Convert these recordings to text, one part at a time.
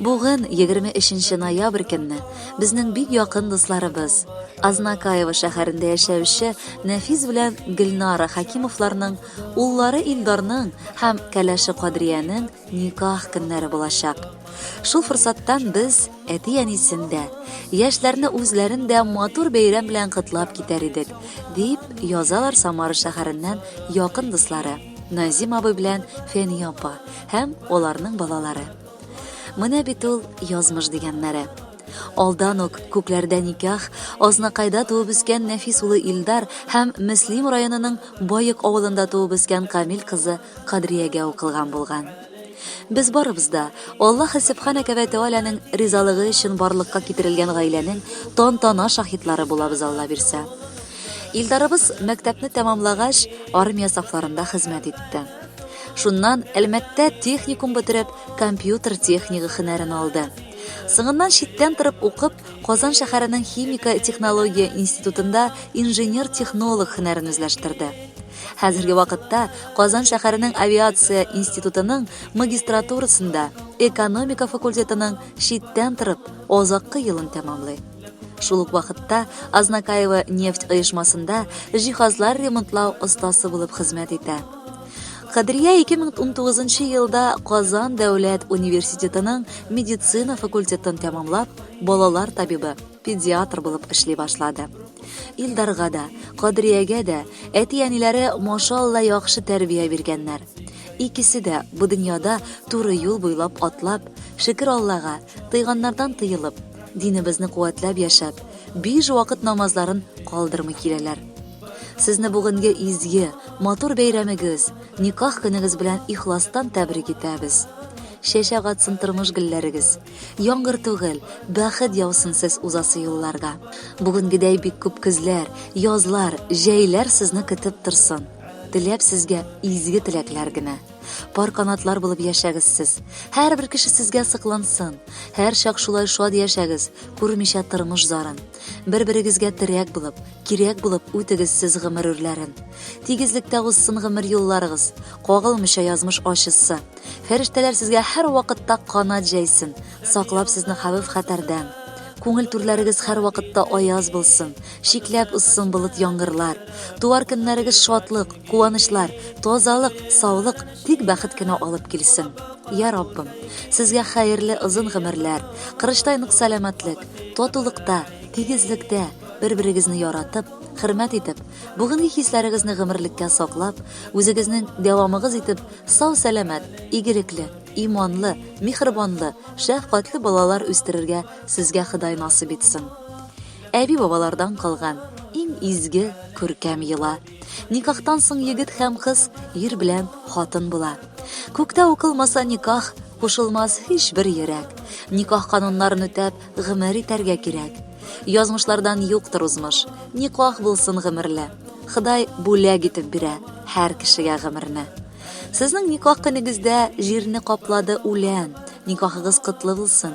Бүген, 23 нче ноябрь көнне, безнең бик якын дусларыбыз, Азнакаево шәһәрендә яшәүче Нәфис белән Гөлнара Хакимовларның уллары Илдарның һәм кәләше Кадриянең никах көннәре булачак. Шул форсаттан без әти-әнисен дә, яшьләрне үзләрен дә матур бәйрәм белән котлап китәр идек, дип язалар Самара шәһәреннән якын дуслары. Назим абый белән Фәния апа һәм аларның балалары. Менә бит ул язмыш дигәннәре. Алдан ук күкләрдә никах, Азнакайда туып үскән Нәфис улы Илдар һәм Мөслим районының Баек авылында туып үскән Камил кызы Кадриягә укылган булган. Без барыбыз да Аллаһ Субханәһү вә Тәгаләнең ризалыгы өчен барлыкка китерелгән гаиләнең тантана шаһитлары булабыз, Алла бирсә. Илдарыбыз мәктәпне тәмамлагач, армия сафларында хезмәт итте. Шуннан Әлмәттә техникум бетереп, компьютер технигы хөнәрен алды. Соңыннан читтән торып укып, Казан шәһәренең химика технология институтында инженер-технолог хөнәрен үзләштерде. Хәзерге вакытта Казан шәһәренең авиация институтының магистратурасында экономика факультетының читтән торып азаккы елын тәмамлый. Шул ук вакытта Азнакаева нефть оешмасында җиһазлар ремонтлау остасы булып хезмәт итә. Кадрия 2019 елда Казан дәүләт университетының медицина факультетын тәмамлап, балалар табибы, педиатр булып эшли башлады. Илдарга да, Кадриягә дә әти-әниләре машалла яхшы тәрбия биргәннәр. Икесе дә бу дөньяда туры юл буйлап атлап, шөкер Аллага, тыйганнардан тыелып, Динебезне куәтләп яшәп, биш вакыт намазларын калдырмый киләләр. Сезне бүгенге изге, матур бәйрәмегез, никах көнегез белән ихластан тәбрик итәбез. Чәчәк атсын тормыш гөлләрегез. Яңгыр түгел, бәхет яусын сез узасы юлларда. Бүгенгедәй бик күп көзләр, язлар, җәйләр сезне көтеп торсын. Теләп сезгә изге теләкләр генә. Пар канатлар булып яшәгез сез. Һәрбер кеше сезгә сыклансын. Һәр чак шулай шат яшәгез, күрмичә тормыш зарын. Бер-берегезгә терәк булып, кирәк булып үтегез сез гомер үрләрен. Тигезлектә узсын гомер юлларыгыз, кагылмыйча язмыш ачысы. Фәрештәләр сезгә һәр вакытта канат җәйсен, саклап сезне хәвеф-хәтәрдән. Күңел түрләрегез һәр вакытта аяз булсын. Шикләп узсын болыт яңгырлар, туар көннәрегез шатлык, куанычлар, тазалык, саулык, тик бәхет кенә алып килсен. Я Раббым, сезгә хәерле озын гомерләр, кырыштай нык сәламәтлек, татулыкта, тигезлектә, бер-берегезне яратып, хөрмәт итеп, бүгенге хисләрегезне гомерлеккә саклап, үзегезнең дәвамыгыз итеп сау-сәламәт, игелекле, иманлы, михрибанлы, шәфкатьле балалар үстерергә сезгә Ходай насыйп итсен. Әби-бабалардан калган иң изге, күркәм йола. Никахтан соң егет һәм кыз ир белән хатын була. Күктә укылмаса никах, кушылмас һичбер йөрәк. Никах кануннарын үтәп, гомер итәргә кирәк. Язмышлардан юктыр узмыш, никах булсын гомерле. Ходай бүләк итеп бирә һәр кешегә гомерне. Сезнең никах көнегездә җирне каплады үлән. Никахыгыз котлы булсын.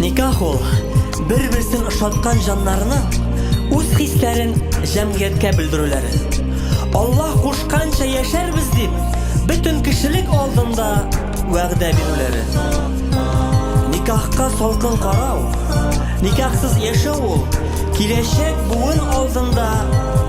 Никах ул, бер-берсен ошаткан җаннарның үз хисләрен җәмгыятькә белдерүләре. Аллаһ кушканча яшәрбез дип, бөтен кешелек алдында вәгъдә бирүләре. Никахка салкын карау, никахсыз яшәү ул, киләчәк буын алдында